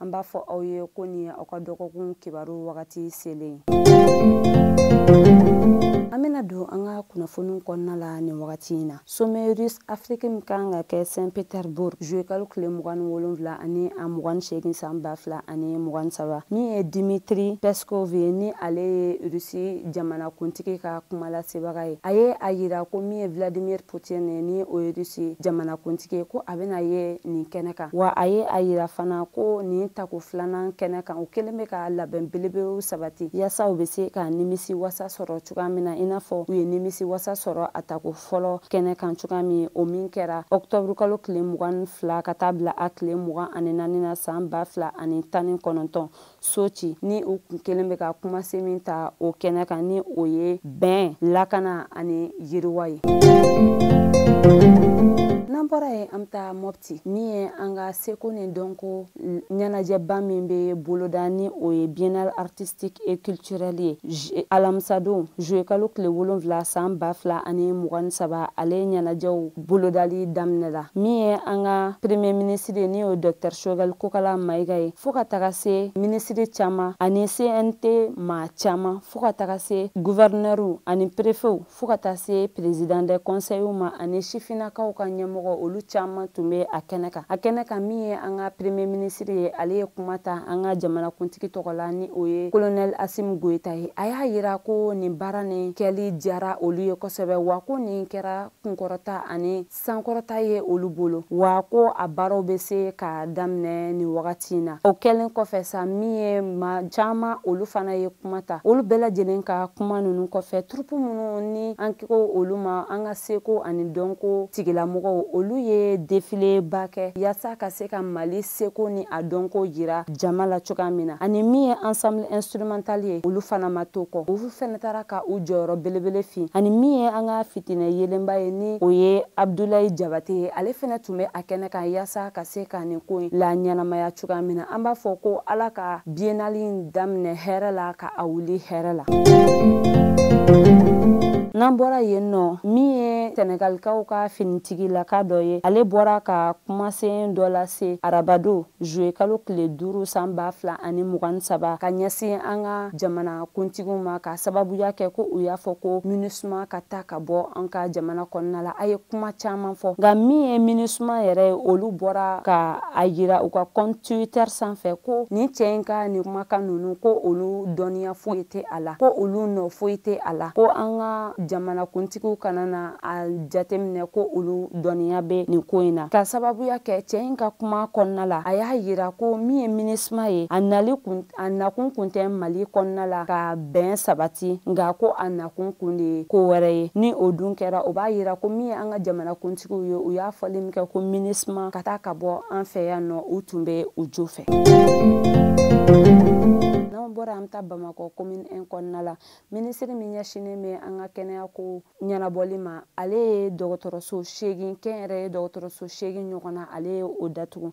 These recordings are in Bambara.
an b'a fɔ aw ye ko nin ye aw ka dɔgɔkun kibaru wagati selen ye an bena don an ka kunnafoniw kɔnɔna la nin wagati in na sommet russe afiriki min kan ka kɛ saint petersbourg juwe kalo tile mugan ni wolonfila ani a mugan ni seegin san ba fila ani mugan ni saba min ye dimitri peskov ye ni ale ye rusi jamanakuntigi ka kumalasebaga ye a ye a yira ko min ye vladimir putin ye ni o ye rusi jamanakuntigi ye ko a bɛna ye nin kɛnɛ kan wa a ye a yira fana ko nin tako filanan kɛnɛ kan u kɛlen bɛ ka labɛn belebelew sabati yasa u bɛ se ka nimisi wasa sɔrɔ cogoya min na i n'a fɔ u ye nimisi wasa sɔrɔ a tako fɔlɔ kɛnɛ kan cogoya min o min kɛra ɔktɔburu kalo tile mugan ni fila ka taa bila a tile mugan ani naani na san ba fila ani tan ni kɔnɔntɔn soci ni u kun kɛlen bɛ ka kumasen min ta o kɛnɛ kan ni o ye bɛn lakana ani yiriwa ye n'an bɔra yen an bɛ taa mɔpti min ye an ka seko ni dɔnko ɲɛnajɛba min bɛ boloda ni o ye biennale artistique et culturelle ye alamisadon juwe kalo tile wolonfila san ba fila ani mugan ni saba ale ɲɛnajɛw bolodali daminɛla min ye an ka premier minisiri ye ni o ye dɔktɛr shogɛl kokala mayiga ye fɔɔ ka taga se minisiri caaman ani cnt maa caaman fɔɔ ka taga se guvɛrinɛriw ani perefew fɔɔ ka taa se perezidan dɛ kɔnsɛyiw ma ani sifinnakaw ka ɲɛmɔgɔ olu caaman tun be a kɛnɛ kan a kɛnɛ kan min ye an ka premier minisiri ye ale ye kuma ta an ka jamanakuntigi tɔgɔ la ni o ye kolonɛl asim goyita ye a y'a yira ko nin baara nin kɛli diyara olu ye kosɛbɛ wa ko nin kɛra kunkɔrɔta ani sankɔrɔta ye olu bolo wa ko a baaraw bɛ se ka daminɛ nin wagati in na o kɛlen kɔfɛ sa min ye maa caman olu fana ye kuma ta olu bɛɛ lajɛlen ka kuma ninnu kɔfɛ turupu minnu ni an ko olu ma an ka seko ani dɔnko tigilamɔgɔw olu ye defileba kɛ yaasa ka se ka mali seko ni a dɔnko yira jama la cogoya min na ani min ye ensemble instrumental ye olu fana ma to kɔ olu fana taara ka u jɔyɔrɔ belebele fin ani min ye an ka fitinɛ yelenba ye ni o ye abdulayi jabate ye ale fana tun bɛ a kɛnɛ kan yaasa ka se ka nin ko in laɲɛnamaya cogoya min na an b'a fɔ ko ala ka biennale in daminɛ hɛrɛ la ka a wuli hɛrɛ la n'an bɔra yen nɔ min ye sɛnɛgalikaw ka finitigilaka dɔ ye ale bɔra ka kumasen dɔ lase arabadon zuwe kalo tile duuru san ba fila ani mugan ni saba ka ɲɛsin an ka jamana kuntigiw ma ka sababuya kɛ ko u y'a fɔ ko minisuma ka taa ka bɔ an ka jamana kɔnɔna la a ye kuma caaman fɔ nka min ye minisuma yɛrɛ ye olu bɔra ka a yira u ka compte Twitter sanfɛ ko nin cɛ in ka nin kumakan ninnu ko olu dɔnniya foyi tɛ a la ko olu nɔ foyi tɛ a la ko an ka jamanakuntigiw kana na a jateminɛ ko olu dɔnniya bɛ nin ko in na k'a sababuya kɛ cɛ in ka kuma kɔnɔna la a y'a yira ko min ye Minusma ye a nali kun a nakun kun tɛ mali kɔnɔna la ka bɛn sabati nka ko a nakun kun de ye ko wɛrɛ ye ni o dun kɛra o b'a yira ko min ye an ka jamana kuntigiw ye u y'a fɔli min kɛ ko Minusma ka taa ka bɔ an fɛ yan nɔ u tun bɛ u jo fɛ n'an bɔra an taa bamakɔ komini 1 kɔnɔna la minisiri min ɲɛsinnen bɛ an ka kɛnɛya ko ɲɛnabɔli ma ale ye dɔgɔtɔrɔso seegin kɛnyɛrɛye dɔgɔtɔrɔso seegin ɲɔgɔn na ale ye o datugu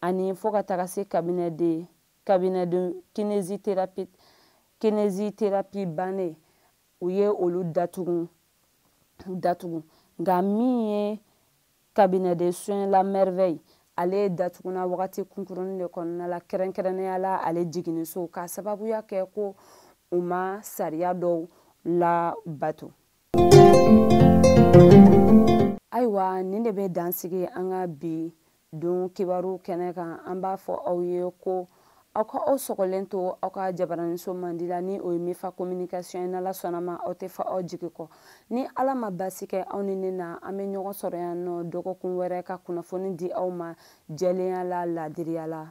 ani fo ka taga se cabinet de cabinet de kinésithérapie bannen u ye olu datugu datugu nka min ye cabinet de soin la merveille ale datuguna wagati kunkuruni de kɔnɔna la kɛrɛnkɛrɛnnenya la ale jiginniso k'a sababuya kɛ ko u ma sariya dɔw labato ayiwa nin de bɛ dan sigi an ka bi don kibaru kɛnɛ kan an b'a fɔ aw ye ko aw ka aw sɔgɔlen to aw ka jabaraniso mandi la ni o ye mifa communication ye n'ala sɔnn'a ma aw tɛ fɔ aw jigi kɔ ni ala ma basi kɛ aw ni ne na an bɛ ɲɔgɔn sɔrɔ yan nɔ dɔgɔkun wɛrɛ ka kunnafoni di aw ma jɛlenya la laadiriya la